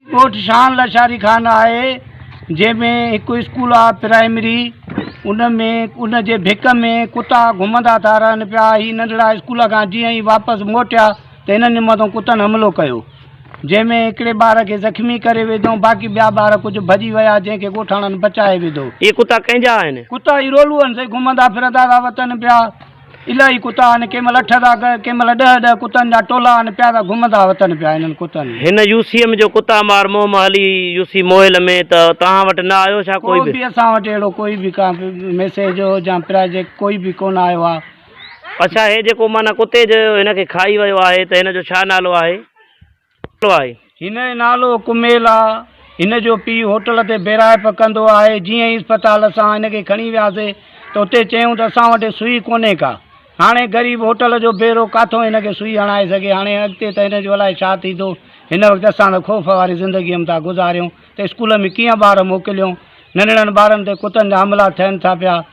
ڳوٺ شان لشاري خان آهي جنهن ۾ هڪ اسڪول آهي پرائمري ان ۾ ان جي ڀڪ ۾ ڪتا گهمندا ٿا رهن پيا هي ننڍڙا اسڪول کان جيئن ئي واپس موٽيا ته هنن مٿان ڪتن حملو ڪيو جنهن ۾ هڪڙي ٻار کي زخمي ڪري وڌو، باقي ٻيا ٻار ڪجهه ڀڄي ويا، جنهن کي ڳوٺاڻن بچائي وڌو. اهي ڪتا ڪنهن جا آهن؟ ڪتا اهي رولوئن سين گهمندا ڦرندا ٿا وتن پيا. الاهي ڪتا آهن، ڪنهن مهل اٺ ٿا ڪن، ڪنهن مهل ڏهه ڏهه ڪتن جا ٽولا آهن، پيا ٿا گهمندا وتن پيا انهن ڪتن. هن يو سي ايم جو ڪتا مار منهن مان هلي يو سي موهل ۾ ته توهان وٽ نه آيو ڇا ڪوئي به؟ ڪو به اسان وٽ اهڙو ڪوئي به ڪا به ميسيج هو جا پراجيڪٽ ڪوئي به ڪونه آيو آهي. اڇا هي جيڪو معنيٰ ڪتي جو هن کي کائي ويو آهي ته هن جو ڇا نالو آهي؟ هن جو نالو ڪميل آ. هن جو پيء هوٽل تي بيراهپ ڪندو آهي. جيئن ئي اسپتال اسان هن کي کڻي وياسي ته اتي چيائون ته اسان وٽ سوئي ڪونهي ڪا. هاڻي غريب هوٽل جو بيرو ڪاٿو هن کي سوئي هڻائي سگهي. هاڻي اڳتي ته هن جو الائي ڇا ٿيندو. هن وقت اسان ته خوف واري زندگي م ٿا گذاريون ته اسڪول ۾ ڪيئن ٻار موڪليون. ننڍڙن ٻارن تي ڪتن جا حملا ٿين ٿا پيا.